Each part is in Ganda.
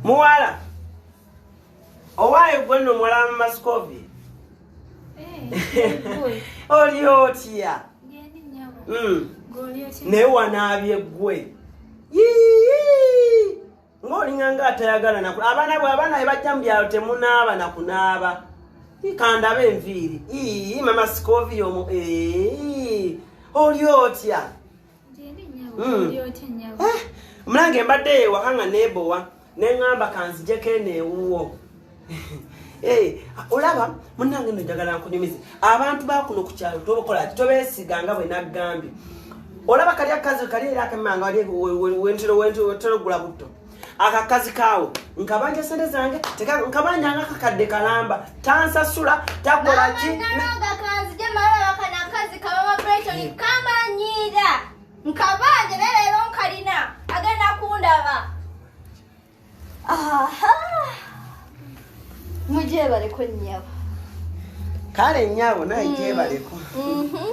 muwala owaayo gwenno muwala wa mumasikovi eh, oli otya hmm. naye wanaabye gwe ng'olinganga atayagala naku abaana bwe abaana be bajja mu byalo temunaaba nakunaaba kandaba enviiri ii mama sikovi omu oli otya Hmm. Eh, mulange mbadde ewaka nga nebowa neŋamba kanzijeko eno ewuwo eh, olaba munange no njagala nkunyumize abantu bakuno ku kyalo tobakola ti tobesiga nga bwe naggambye olaba kali akazi kali era akemanga wali wentero wentero wentero gula butto akakazi kaawo nkabanja sente zange nkabanja nga kakadde kalamba tansasula takolaki nkabanja naye leero nkalina agenda kundaba mugyebaleko nyabo kale nyabo naye gyebaleko mm. mm-hmm.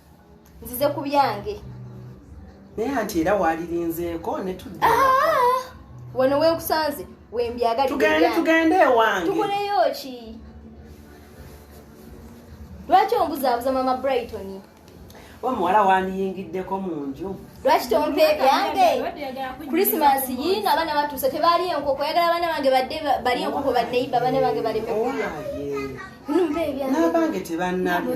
nzize ku byange naye anti era walirinzeeko ne tudda ah! wano wenkusanze wembyagaltugende tugende ewange tukoleyo ki lwaki ombuzaabuza mama brighton omuwala wandiyingiddeko mu nju lwaki tompa ebyange christmas yiino abaana batuuse tebaali enkoko yagala abaana bange badde bali enkoko baneiba abaana bange baleme kulya nmpa ebyange n'abange tebannabye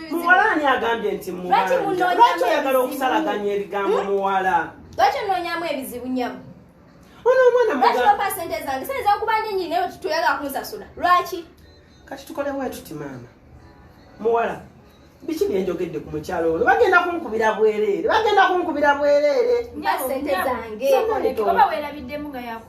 muwala ani agambye nti mubanja lwaki oyagala okusalaganya ebigambo hmm? muwala lwaki onoonyamu ebizibu nyabo ono omwana mubampa sente zange sente zakubanja enyini naye toyagala kunsasula lwaki kati tukolewo etuti maama muwala biki byenjogedde ku mukyalo ono bagenda kunkubira bwereere bagenda kunkubira bwereere sente zange oba werabiddemu nga yaku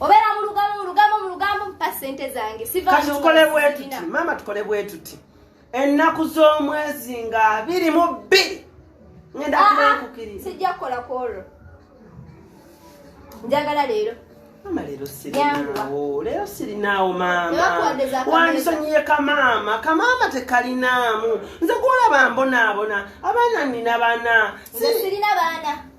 obeera mu lugambo mu lugambo mu lugambo mpa ssente zange kati tukole bwetuti maama tukole bwetuti ennaku z'omwezi nga biri mu bbiri ngenda ah, ah, kubankukiriza sijja kukola ku olwo njagala leero mama lero sirinaawo lero sirinaawo maama wandisonyiye kamaama kamaama tekalinaamu nze gwolaba mbonaabona abaana nina bana sirina baana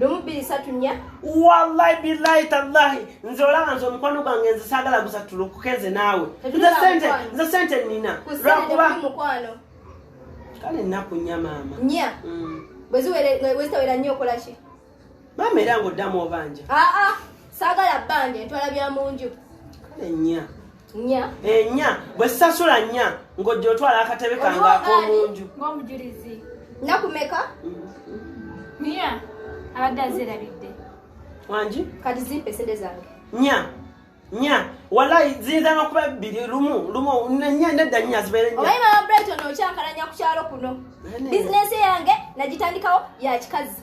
lumu bbiri satu nnya wallahi billahi tallahi nze olaba nze omukwano gwange nze saagala gusatulukuke nze naawe nze sente nina lwakuba kale nnaku nnya maama nnya mm. bweziwera nnyo okola ki maama era ngaoddamu obanja aa saagala bbanja entwala bya mu nju kale nnya nya eh, nya bwe sasula nya ng'ojja otwala akatebe kange ak'omunju ng'omujulizi nakumeka nya abadde azirabidde wangi kati zimpa esente zange nya nya walayi ziyinza n'okuba bbiri lumu lumu nya nedda nya zibeere nya obayi mama brighton okyankalanya ku kyalo kuno bizinensi yange nagitandikawo ya kikazi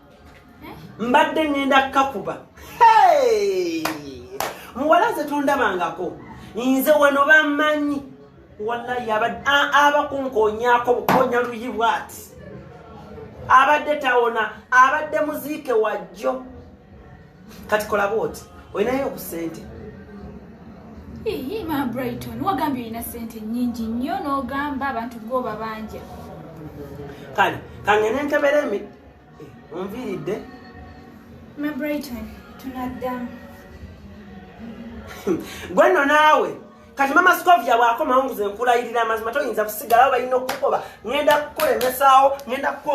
mbadde ŋŋenda kukakuba muwala nze tondabangako nze wano bamanyi wallahi abakunkonyaako bukonya luyi bwati abadde tawona abadde muziike wajjo kati kola bwoti olinayo obusente ma brighton wagambye olina sente nyingi nnyo n'ogamba abantu goba banja kale kangene nkebere onviiridde ma brighton tunaddamu gwe nno naawe kati mama scovia bwakomawo nguze nkulayirira amazima toyinza kusigalawo balina okukukoba ŋenda kukulemesaawo ŋenda kukukoba